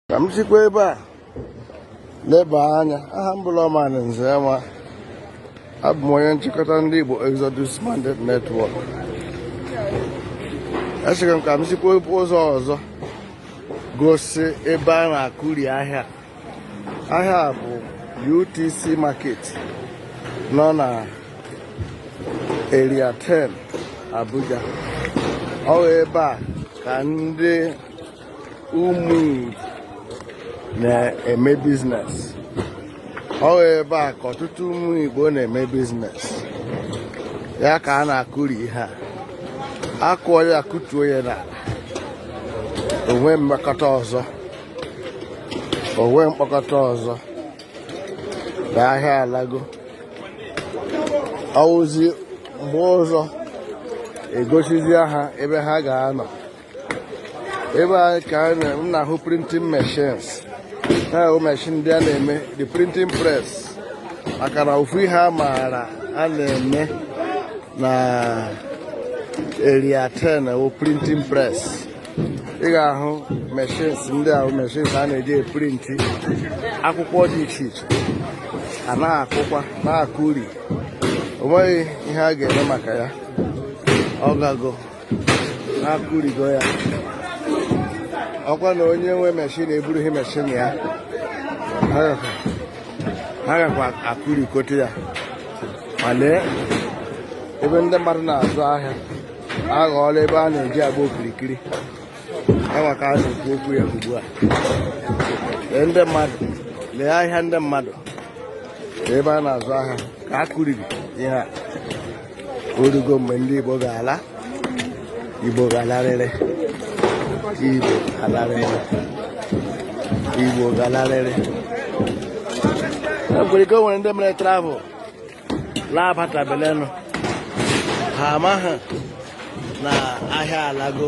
ka m sikwa ebe a leba anya aha m bụ Lawman Nzenwa abụ m onye nchịkọta ndị Igbo Exodus Mandate Network echegara m ka m sikwa ụzọ ọzọ gosi ebe a na-akụri ahịa ahịa bụ UTC Market nọ na Area 10 Abuja ọ ebe a ka ndị ụmụ na-eme business ọ ebe a ka ọtụtụ ụmụ Igbo na-eme business ya ka a na-akụri ihe a akụọ ya akụtuo ya n'ala o nwe mkpọkọta ọzọ o nwe mkpọkọta ọzọ na ahịa alago ọ wụzi mgbe ọzọ e gosizie ha ebe ha ga-anọ ebe a ka m na-ahụ printing machines ha wụ machine ndị a na-eme the printing press maka na ofu ihe a maara a na-eme na Area 10 wụ printing press ị ga-ahụ machines ndị ahụ machines a na-eji eprinti akwụkwọ dị iche iche a na-akụkwa na-akụri o nweghị ihe a ga-eme maka ya ọ gago akụrigo ya ọ kwa na onye nwe machine eburughị machine ya ha gakwa akụrikote ya ma lee ebe ndị mmadụ na-azụ ahịa aghọọla ebe a na-eji agba okirikiri enwe ka a na-ekwu okwu ya ugbu a lee ndị mmadụ lee ahịa ndị mmadụ ebe a na-azụ ahịa ka a kụriri ihe a orugo mgbe ndị Igbo ga-ala Igbo ga-alarịrị Igbo ga-alarịrị Igbo ga-alarịrị e nwere ike o nwere ndị mere travel laa abatabelenụ ha amaghị na ahịa alago